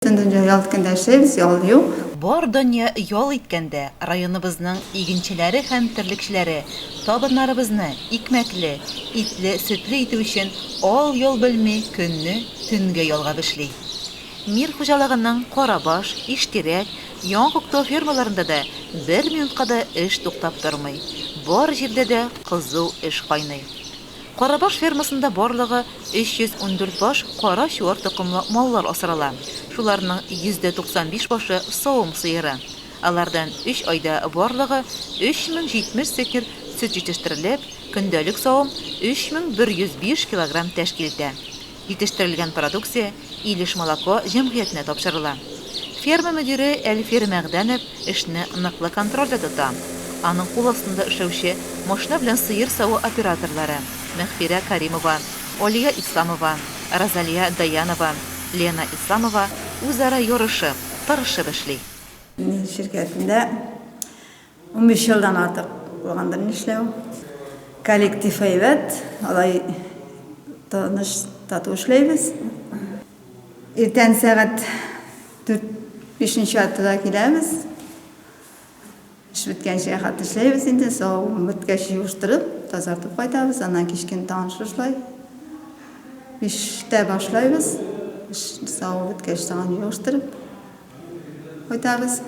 Бөтен дөнья ял иткәндә яшәйбез, ял юк. Бар дөнья ял иткәндә районыбызның игенчеләре һәм терлекчеләре табыннарыбызны икмәкле, итле, сөтле итү өчен ал-йол белми көнне, төнгә ялгап эшли. Мир хуҗалыгының Карабаш, Иштирәк, Яңа Күктау фермаларында да бер минутка да эш туктап тормый, бар җирдә дә кызу эш кайный. Карабаш фермасында барлыгы 314 баш кара чуар токымлы маллар асрала. Шуларның 95 башы савым сыеры. Алардан өч айда барлыгы 3070 сетнер сөт җитештерелеп, көндәлек савым 3105 килограмм тәшкил итә. Җитештерелгән продукция Илеш Молоко җәмгыятенә тапшырыла. Ферма мөдире Әлфир Мәгъдәнов эшне ныклы контрольдә тота. Аның кул астында эшләүче машина белән сыер саву операторлары, Мәгъфирә Каримова, Алия Исламова, Розалия Даянова, Лена Исламова үзара ярышып, тырышып эшли. Ширкәтендә Унбиш елдан артык булгандыр, нишләү. Коллектив әйбәт, алай тыныч, тату эшләйбез. Иртән сәгать дүрт, бишенче яртыда киләбез. Эш беткәнчегә хәтле эшләйбез инде, савуын беткәч җыештырып, тазартып кайтабыз, аннан кичкен тагын шушылай. Биштә башлайбыз, эш савуы беткәч тагын җыештырып. Кайтабыз.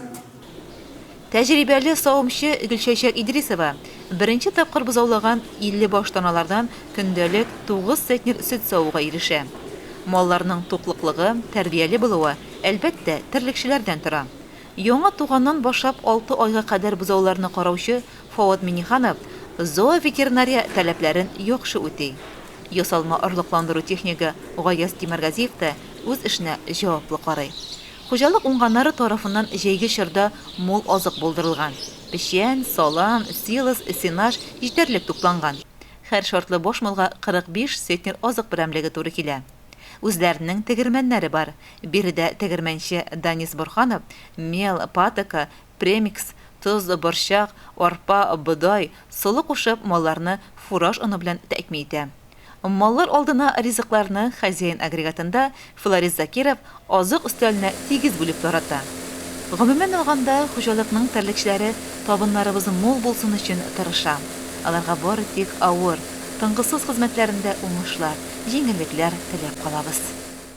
Тәҗрибәле савымчы Гөлчәчәк Идрисова беренче тапкыр бозаулаган 50 баш таналардан көндәлек 9 центнер сөт савуга ирешә. Малларның туклыклыгы, тәрбияле булуы, әлбәттә, терлекчеләрдән тора. Яңа туганнан башлап алты айга кадәр бозауларны караучы Фоат Миңнеханов зооветеринария таләпләрен яхшы үти. Ясалма орлыкландыру технигы Гаяз Тимергазиев та үз эшенә җаваплы карый. Хуҗалык уңганнары тарафыннан җәйге чорда мул азык булдырылган. Печән, салам, силос, сенаж җитәрлек тупланган. Хәр шартлы баш малга 45 центнер азык берәмлеге туры килә. Үзләренең тегермәннәре бар. Биредә тегермәнче Данис Борһанов мел, патока, премикс, тоз, борчак, арпа, бодай, солы кушып, малларны фураж оны белән тәэмин итә. Маллар алдына ризыкларны хозяин агрегатында Фларис Закиров азык өстәленә тигез бүлеп тарата. Гомумән алганда, хуҗалыкның терлекчеләре табыннарыбыз мул булсын өчен тырыша. Аларга бары тик авыр, тынгысыз хезмәтләрендә уңышлар, җиңеллекләр теләп калабыз.